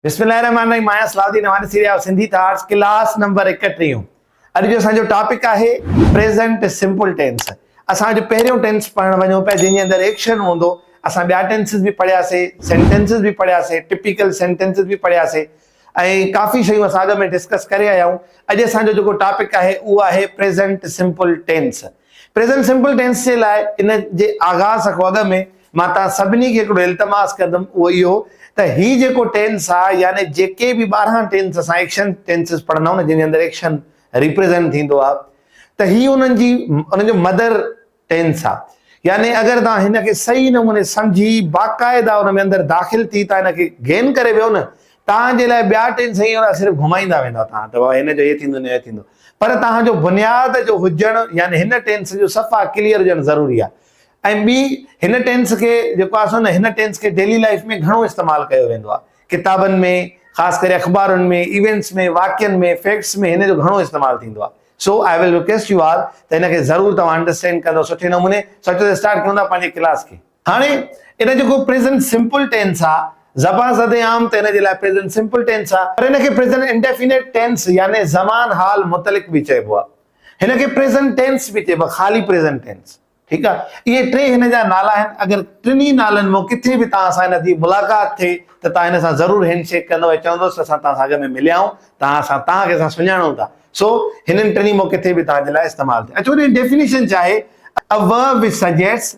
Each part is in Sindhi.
بسم الله الرحمن الرحيم آهيان Salah Uddin Ahmed series of Sindhi thoughts class number ايڪٽيهون اڄ جو اسان جو ٽاپڪ آهي پريزنٽ سمپل ٽينس اسان جو پهريون ٽينس پڙهڻ وڃون پيا جنهن جي اندر ايڪشن هوندو اسان ٻيا ٽينسز به پڙهياسي سينٽينسز به پڙهياسي ٽپيڪل سينٽينسز به پڙهياسي ۽ ڪافي شيون اسان اڳ ۾ ڊسڪس ڪري آيا آهيون اڄ اسان جو جيڪو ٽاپڪ آهي اهو آهي present simple tense present simple tense جي لاء ان جي آغاز کان اڳ ۾ مان توهان سڀني کي هڪڙو التماس ڪندم اهو اهو ته هي جيڪو ٽينس آهي يعني جيڪي به ٻارهن ٽينس اسان ايڪشن ٽينسز پڙهندا آهيون نه جن جي اندر ايڪشن ريپريزنٽ ٿيندو آهي ته هي انهن جي انهن جو مدر ٽينس آهي يعني اگر توهان هن کي صحيح نموني سمجهي باقاعده ان ۾ اندر داخل ٿي توهان هن کي گين ڪري ويو نه توهان جي لاء ٻيا ٽينس هيئن صرف گهمائيندا ويندا توهان ته هن جو هي ٿيندو نه هي ٿيندو پر توهان جو بنياد جو هجڻ يعني هن ٽينس جو صفا ڪليئر هجڻ ضروري آهي ۽ ٻي هن ٽينس کي جيڪو آهي سو نه هن ٽينس کي ڊيلي لائف ۾ گهڻو استعمال ڪيو ويندو آهي ڪتابن ۾ خاص ڪري اخبارن ۾ ايونٽس ۾ واقعن ۾ فيڪٽس ۾ هن جو گهڻو استعمال ٿيندو آهي سو I will request you all ته هن کي ضرور توهان انڊرسٽينڊ ڪندو سٺي نموني سوچو ته اسٽارٽ ڪيون ٿا پنهنجي ڪلاس کي هاڻي ان جيڪو پريزنٽ سمپل ٽينس آ زبان زد عام ته ان جي لاء پريزنٽ سمپل ٽينس آ پر ان کي پريزنٽ انڊيفينيٽ ٽينس يعني زمان حال متعلق به چئبو آ هن کي پريزنٽ ٽينس به چئبو آ خالي پريزنٽ ٽينس ٺيڪ آ اهي ٽي هن جا نالا آهن اگر ٽنهي نالن مون ڪٿي به توهان سان هن جي ملاقات ٿئي ته توهان هن سان ضرور هينڊ شيڪ ڪندو ۽ چوندوس ته اسان توهان سان اڳ ۾ مليا آهيون توهان اسان توهان کي اسان سڃاڻون ٿا سو هنن ٽنهي مون ڪٿي به توهان جي لاء استعمال ٿي اچو ڏيفينيشن چاهي a verb which suggests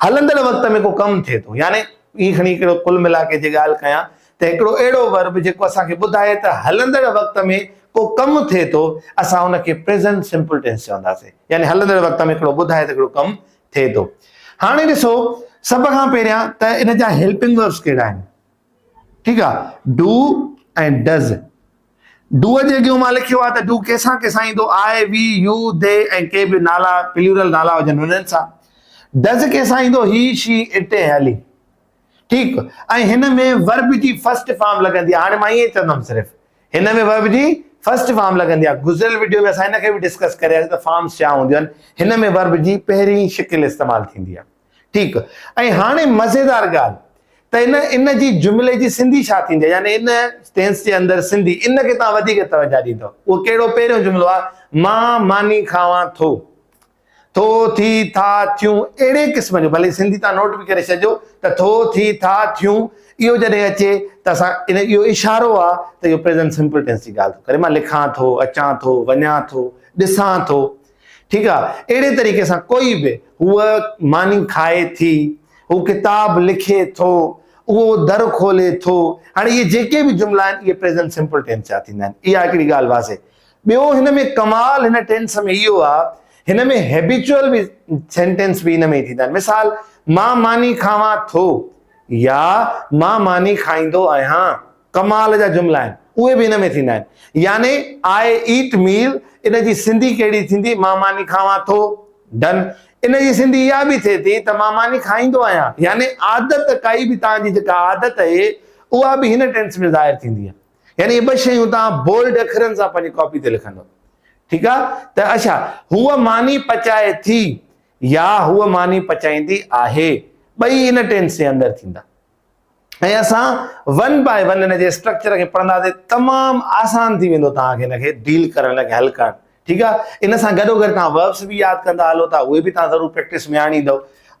هلندڙ وقت ۾ ڪو ڪم ٿئي ٿو يعني ائين کڻي هڪڙو ڪل ملا ڪي جي ڳالهه ڪيان ته هڪڙو اهڙو ورب جيڪو اسان کي ٻڌائي ته هلندڙ وقت ۾ ڪو ڪم ٿئي ٿو اسان ان کي پريزنٽ سمپل ٽينس چونداسين يعني هلندڙ وقت ۾ هڪڙو ٻڌائي ته هڪڙو ڪم ٿئي ٿو هاڻي ڏسو سڀ کان پهريان ته ان جا هيلپنگ وربس ڪهڙا آهن ٺيڪ آ ڊو ۽ ڊز ڊو جي اڳيون مان لکيو آ ته ڊو ڪيسان ڪيسان ايندو آء وي يو دي ۽ ڪي به نالا پليورل نالا هجن انهن سان ڊز ڪيسان ايندو هي شي اٽ ۽ هلي ٺيڪ ۽ هن ۾ ورب جي فرسٽ فارم لڳندي آ هاڻي مان ائين چوندم صرف هن ۾ ورب جي فرسٽ فارم لڳندي آ گذريل وڊيو ۾ اسان هن کي به ڊسڪس ڪرياسي ته فارمز ڇا هونديون آهن هن ۾ ورب جي پهرين شڪل استعمال ٿيندي آ ٺيڪ ۽ هاڻي مزيدار ڳالهه ته ان ان جي جملي جي سنڌي ڇا ٿيندي يعني ان ٽينس جي اندر سنڌي ان کي توهان وڌيڪ توجه ڏيندو اهو ڪهڙو پهريون جملو آهي مان ماني کاوان ٿو ٿو ٿي ٿا ٿيون اهڙي قسم جو ڀلي سنڌي تان نوٽ به ڪري ڇڏجو ته ٿو ٿي ٿا ٿيون اهو جڏهن اچي ته اسان ان اهو اشارو آهي ته اهو پريزنٽ سمپل ٽينس جي ڳالهه ٿو ڪري مان لکان ٿو اچان ٿو وڃان ٿو ڏسان ٿو ٺيڪ آ اهڙي طريقي سان ڪوئي به هوء ماني کائي ٿي هو ڪتاب لکي ٿو اهو در کولي ٿو هاڻي اهي جيڪي به جملا آهن اهي پريزنٽ سمپل ٽينس جا ٿيندا آهن اها هڪڙي ڳالهه واضح ٻيو هن ۾ ڪمال هن ٽينس ۾ اهو آ هن ۾ هيبيچوئل به سينٽينس به هن ۾ ٿيندا آهن مثال مان ماني کاوان ٿو يا مان ماني کائيندو آهيان ڪمال جا جملا آهن اهي به ان ۾ ٿيندا آهن يعني آء ايٽ ميل ان جي سنڌي ڪهڙي ٿيندي مان ماني کاوان ٿو ڊن ان جي سنڌي اها به ٿئي ٿي ته مان ماني کائيندو آهيان يعني عادت ڪائي به توهان جي جيڪا عادت اهي اها به هن ٽينس ۾ ظاهر ٿيندي آهي يعني اهي ٻه شيون توهان بولڊ اکرن سان پنهنجي ڪاپي تي لکندو ٺيڪ آهي ته اڇا هو ماني پچائي ٿي يا هو ماني پچائيندي آهي ٻئي ان ٽينس جي اندر ٿيندا ۽ اسان ون باء ون ان جي اسٽرڪچر کي پڙهنداسين تمام آسان ٿي ويندو توهان کي ان کي ڊيل ڪرڻ ان کي حل ڪرڻ ٺيڪ آ ان سان گڏو گڏ توهان وربس به ياد ڪندا هلو ٿا اهي به توهان ضرور پريڪٽس ۾ آڻيندو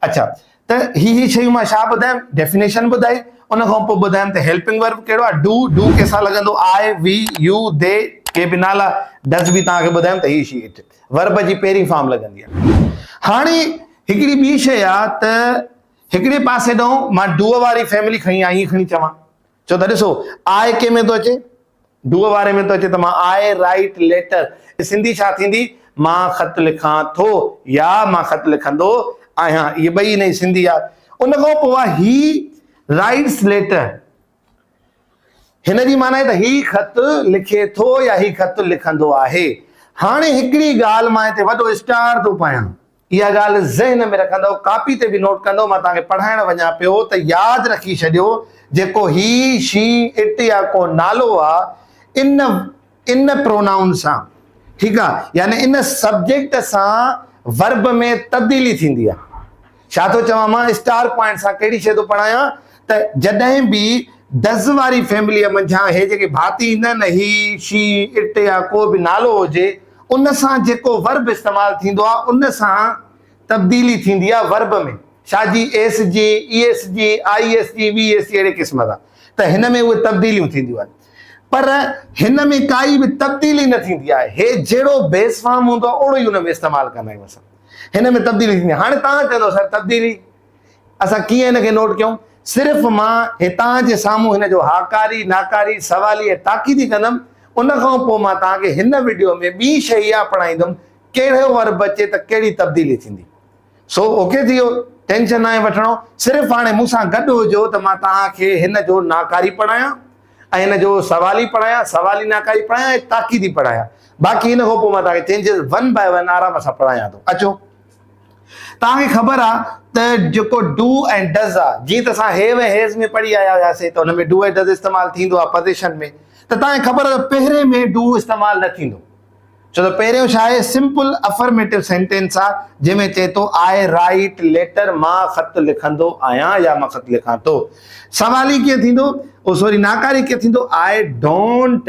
اچھا ته هي هي شيون مان ڇا ٻڌايم ڊيفينيشن ٻڌائي ان کان پوء ٻڌايم ته هيلپنگ ورب ڪهڙو آهي ڊو ڊو ڪيسا لڳندو آء وي يو دي ڪي به نالا ڊز به توهان کي ٻڌايم ته هي شي ورب جي پهرين فارم لڳندي آهي هاڻي هڪڙي ٻي شي آ ته هڪڙي پاسي ڏانهن مان ڊوء واري فيملي کڻي آء ائين کڻي چوان ڇو ته ڏسو آء ڪي ۾ ٿو اچي ڊوء واري ۾ ٿو اچي ته مان آء رائيٽ ليٽر سنڌي ڇا ٿيندي مان خط لکان ٿو يا مان خط لکندو آهيان اهي ٻئي انهي سنڌي آ ان کان پوء هي رائيٽس ليٽر هن جي معنيٰ ته هي خط لکي ٿو يا هي خط لکندو آهي هاڻي هڪڙي ڳالهه مان هتي وڏو اسٽار ٿو پايان اها ڳالهه ذهن ۾ رکندؤ، ڪاپي تي به نوٽ ڪندؤ، مان توهان کي پڙهائڻ وڃان پيو ته ياد رکي ڇڏيو، جيڪو هي، شي، اٽ يا ڪو نالو آ، ان، ان پرونائون سان، ٺيڪ آ، يعني ان سبجيڪٽ سان ورب ۾ تبديلي ٿيندي آ. ڇا ٿو چوان مان اسٽار پوائنٽ سان ڪهڙي شيء ٿو پڙهايان ته جڏهن به دز واري فيمليء منجهان هي جيڪي ڀاتي ايندا آهن نه، هي، شي، اٽ يا ڪو به نالو هجي، ان سان جيڪو ورب استعمال ٿيندو آهي ان سان تبديلي ٿيندي آهي ورب ۾ شاهه جي ايس جي اي ايس جي آئي ايس جي وي ايس جي اهڙي قسم سان ته هن ۾ اهي تبديليون ٿينديون آهن پر هن ۾ ڪائي به تبديلي نه ٿيندي آهي هي جهڙو بيس فارم هوندو آهي اهڙو ئي ان ۾ استعمال ڪندا آهيون اسان هن ۾ تبديلي ٿيندي آهي هاڻي توهان چوندو سر تبديلي اسان ڪيئن هن کي نوٽ ڪيون؟ صرف مان هتان جي سامهون هن جو هاڪاري، ناڪاري، سوالي ۽ تاڪيدي ڪندم، ان کان پوء مان توهان کي هن وڊيو ۾ ٻي شيء اها پڙهائيندم ڪهڙو ورب اچي ته ڪهڙي تبديلي ٿيندي. سو اوڪي ٿي ويو، ٽينشن ناهي وٺڻو، صرف هاڻي مون سان گڏ هجو ته مان توهان کي هن جو ناڪاري پڙهايان ۽ هن جو سوالي پڙهايان، سوالي ناڪاري پڙهايان ۽ تاڪيدي پڙهايان، باقي ان کان پوء مان توهان کي چينجز ون باء ون آرام سان پڙهايان ٿو. اچو! توهان کي خبر آ ته جيڪو ڊو ۽ ڊز آ جيئن ته اسان هيو ۽ هيز ۾ پڙهي آيا هياسي ته ان ۾ ڊو ۽ ڊز استعمال ٿيندو آ پزيشن ۾ ته توهان کي خبر آ ته پهرين ۾ ڊو استعمال نه ٿيندو ڇو ته پهريون ڇا آهي سمپل افرميٽو سينٽينس آ جنهن ۾ چئي ٿو آء رائيٽ ليٽر مان خط لکندو آهيان يا مان خط لکان ٿو سوال هي ڪيئن ٿيندو او سوري ناڪاري ڪيئن ٿيندو آء ڊونٽ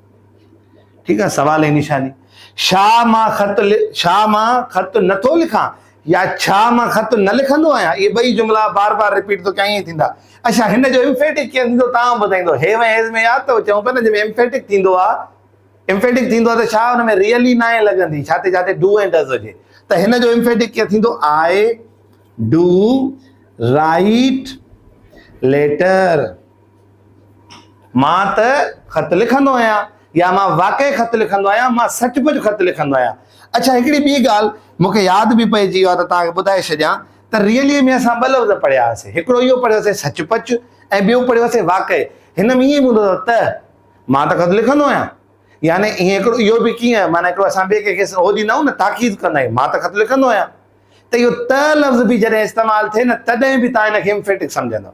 ٺيڪ آ سوال ۽ نشاني شا مان خط شا مان خط نٿو لکان يا ڇا مان خط نه لکندو آهيان اهي ٻئي جملا بار بار رپيٽ ٿو ڪيان ائين ٿيندا اڇا هن جو امفيٽڪ ڪيئن ٿيندو تان ٻڌائيندو هي ۽ هيز ۾ ياد اٿو چون پيا نه جي ۾ امفيٽڪ ٿيندو آ امفيٽڪ ٿيندو آ ته ڇا ان ۾ ريئلي نه آهي لڳندي ڇا تي جاتي ڊو ۽ ڊز هجي ته هن جو امفيٽڪ ڪيئن ٿيندو آئي ڊو رائيٽ ليٽر مان ته خط لکندو آهيان يا مان واقعي خط لکندو آهيان، مان سچ پچ خط لکندو آهيان. اڇا هڪڙي ٻي ڳالهه مون کي ياد به پئجي ويو آهي ته توهان کي ٻڌائي ڇڏيان ته ريلي ۾ اسان ٻه لفظ پڙهيا هئاسين، هڪڙو اهو پڙهيو هئسين سچ پچ ۽ ٻيو پڙهيو هئسين واقعي. هن ۾ ائين به هوندو اٿو ته مان ته خط لکندو آهيان يعني ائين هڪڙو اهو به ڪيئن معنيٰ هڪڙو اسان ٻئي ڪنهن کي اهو ڏيندا آهيون نه تاڪيد ڪندا آهيون مان ته خط لکندو آهيان ته اهو ته لفظ به جڏهن استعمال ٿئي نه تڏهن به توهان هن کي Emphatic سمجهندؤ.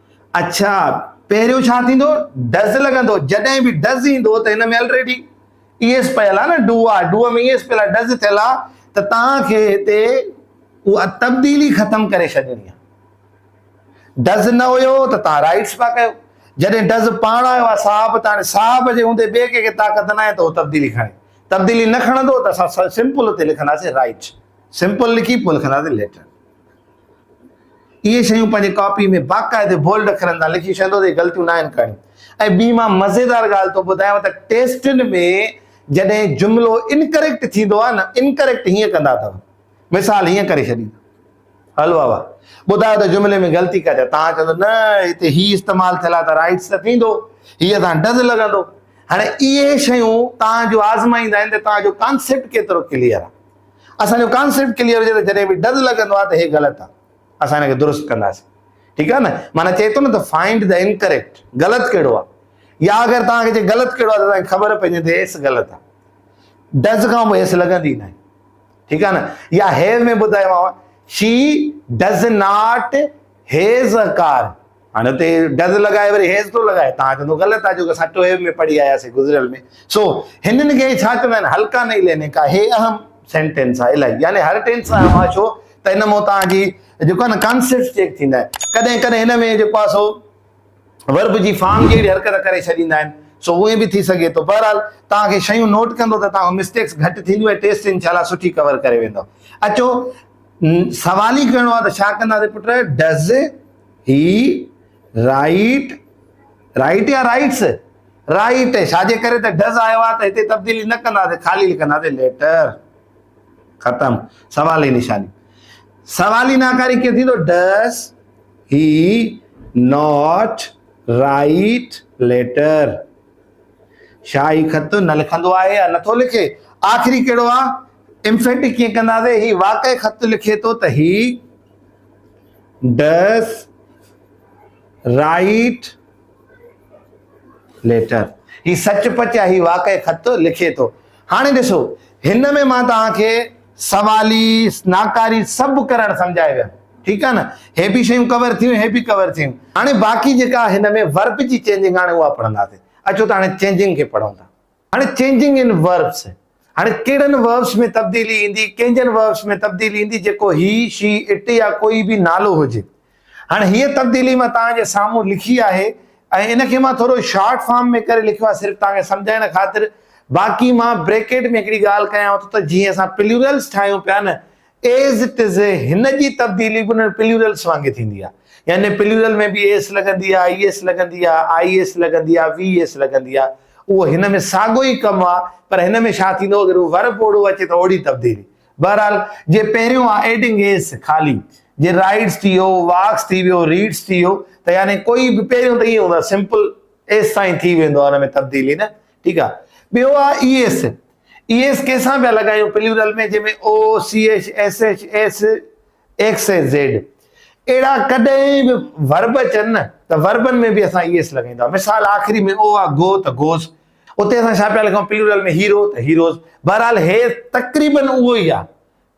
اڇا پهريون ڇا ٿيندو ڊز لڳندو جڏهن به ڊز ايندو ته هن ۾ الريڊي اي ايس پيل آ نه ڊو آ ڊو ۾ اي ايس پيل آ ڊز ٿيل آ ته توهان کي هتي اها تبديلي ختم ڪري ڇڏڻي آ ڊز نه هيو ته توهان رائٽس پيا ڪيو جڏهن ڊز پاڻ آيو آ صاحب ته صاحب جي هوندي ٻئي ڪنهن کي طاقت ناهي ته هو تبديلي کڻي تبديلي نه کڻندو ته اسان سمپل هتي لکنداسين رائٽ سمپل لکي پوء لکنداسين ليٽر اهي شيون پنهنجي ڪاپي ۾ باقاعدي بولڊ اکرن سان لکي ڇڏيندو ته هي غلطيون ناهن ڪرڻيون ۽ ٻي مان مزيدار ڳالهه تو ٻڌايان ته ٽيسٽن ۾ جڏهن جملو انڪريڪٽ ٿيندو آهي نه انڪريڪٽ هيئن ڪندا اٿو مثال هيئن ڪري ڇڏيندو هل بابا ٻڌايو ته جملي ۾ غلطي ڪا چا تان چوندو نه هتي هي استعمال ٿيل آهي ته رائٽس ته ٿيندو هي اسان ڊز لڳندو هاڻي اهي شيون تان جو آزمائيندا آهن ته تان جو ڪانسيپٽ ڪيترو ڪليئر آهي اسان جو ڪانسيپٽ ڪليئر هجي ته جڏهن به ڊز لڳندو آهي ته هي غلط آهي اسان هن کي درست ڪنداسين ٺيڪ آهي نه معنيٰ چئي ٿو نه ته فائنڊ ته انڪريڪٽ غلط ڪهڙو آهي يا اگر توهان کي چئي غلط ڪهڙو آهي ته توهان کي خبر پئجي ته هيس غلط آهي ڊز کان به هيس لڳندي نه ٺيڪ آهي نه يا هيو ۾ ٻڌايوماو she does not has a car هاڻي اتي ڊز لڳائي وري هيز ٿو لڳائي تان چوندو غلط آهي جو اسان ٽوهيو ۾ پڙهي آيا سي گذريل ۾ سو هنن کي ڇا چوندا آهن هلڪا نئي ليني ڪا هي اهم سينٽينس آهي الائي يعني هر ٽينس اهم آهي ڇو ته هن مون تان جي جيڪو نه ڪانسيپٽ چيڪ ٿيندا آهن ڪڏهن ڪڏهن هن ۾ جيڪو آهي سو ورب جي فارم جي حرڪت ڪري ڇڏيندا آهن سو اهي به ٿي سگهي ٿو بهرحال تان کي شيون نوٽ ڪندو ته تان مسٽيڪس گهٽ ٿينديون ۽ ٽيسٽ انشاءالله سٺي ڪور ڪري ويندو اچو سوال ئي ڪهڙو آهي ته ڇا ڪنداسي put does he write write يا رائيٽس رائيٽ ڇا جي ڪري ته ڊز آيو آهي ته هتي تبديلي نه ڪنداسي خالي لکنداسي ليٽر ختم سوال جي نشاني سوالي ناڪاري ڪيئن ٿيندو does he not write letter شاهه هي خط نه لکندو آهي يا نٿو لکي آخري ڪهڙو آهي امفيٽ ڪيئن ڪنداسي هي واقعي خط لکي ٿو ته هي ڊس رائيٽ ليٽر هي سچ پچ يا هي واقعي خط لکي ٿو هاڻي ڏسو هن ۾ مان توهان کي سوالي ناڪاري سڀ ڪرڻ سمجهائي ويم ٺيڪ آهي نه هي به شيون ڪور ٿيون هي به ڪور ٿيون هاڻي باقي جيڪا هن ۾ ورب جي چينجنگ آڻي اها پڙهنداسين اچو ته هاڻي چينجنگ کي پڙهون ٿا هاڻي چينجنگ ان وربس، هاڻي ڪهڙن وربس ۾ تبديلي ايندي، ڪنهنجن وربس ۾ تبديلي ايندي جيڪو هي، شي، اٽ يا ڪوئي به نالو هجي. هاڻي هيء تبديلي مان توهان جي سامهون لکي آهي ۽ ان کي مان ٿورو شارٽ فارم ۾ ڪري لکيو آهي صرف توهان کي سمجهائڻ خاطر، باقي مان بريڪيٽ ۾ هڪڙي ڳالهه ڪيانو ٿو ته جيئن اسان پليورلس ٺاهيون پيا نه As it is هن جي تبديلي به انهن پليورلس وانگي ٿيندي آهي. يعني پليورل ۾ به ايس لڳندي آهي، ايس لڳندي آهي، آئي ايس لڳندي آهي، وي ايس لڳندي آهي. اهو هن ۾ ساڳو ئي ڪم آهي پر هن ۾ ڇا ٿيندو اگر هو ورب اوڙو اچي ته اوڙي تبديلي. بهرحال جي پهريون آهي ايڊنگ ايس خالي جي رائيڊس ٿي ويو، واڪس ٿي ويو، ريڊس ٿي ويو ته يعني ڪوئي به پهريون ته ائين هوندو آهي سمپل ايس سان ئي ٿي ويندو آهي ان ۾ تبديلي نه ٺيڪ آهي. ٻيو آهي اي ايس ايس ڪي سان پيا لڳايون، پليورل ۾ جنهن ۾ O, C H, S H, S, X ۽ Z اهڙا ڪڏهن به ورب اچن نه ته وربن ۾ به اسان ايس لڳائيندا. مثال آخري ۾ او آ گو ته گوز. اتي اسان ڇا پيا لکون پليورل ۾ هيرو ته هيروز. بهرحال هيء تقريباً اهو ئي آ.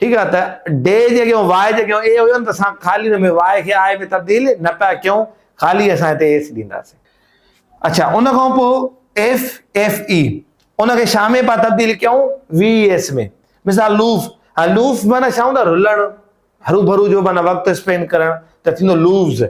ٺيڪ آ ته ڊي جي اڳيان واء جي اڳيان اي هيو نه ته اسان خالي ان ۾ واء کي آء ۾ تبديل نه پيا ڪيون خالي اسان هتي ايس ڏينداسين اڇا ان کان پوء ايف ايف اي ان کي شا ۾ پيا تبديل ڪيون وي ايس ۾ مثال لوف ها لوف معنی شا هوندا رلڻ هروڀرو جو معنی وقت اسپينڊ ڪرڻ ته ٿيندو لوفز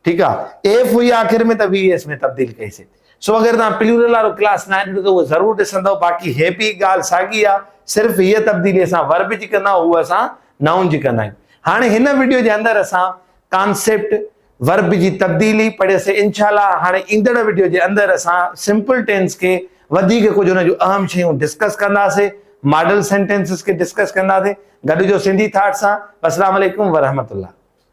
ٺيڪ آ ايف هئي آخر ۾ ته وي ايس ۾ تبديل ڪئي سي سو اگر توهان پلورل وارو ڪلاس ناهي ڏٺو ته اهو ضرور ڏسندو باقي هي به ڳالهه ساڳي آ صرف هي تبديلي اسان ورب جي ڪندا آهيون هو اسان نائون جي ڪندا آهيون هاڻي هن وڊيو جي اندر اسان ڪانسيپٽ ورب جي تبديلي پڙهياسي انشاء الله هاڻي ايندڙ وڊيو جي اندر اسان سمپل ٽينس کي وڌيڪ ڪجهه ان جون اهم شيون ڊسڪس ڪنداسي ماڊل سينٽينسز کي ڊسڪس ڪنداسي گڏ جو سنڌي ٿاٽ سان السلام عليڪم ورحمت الله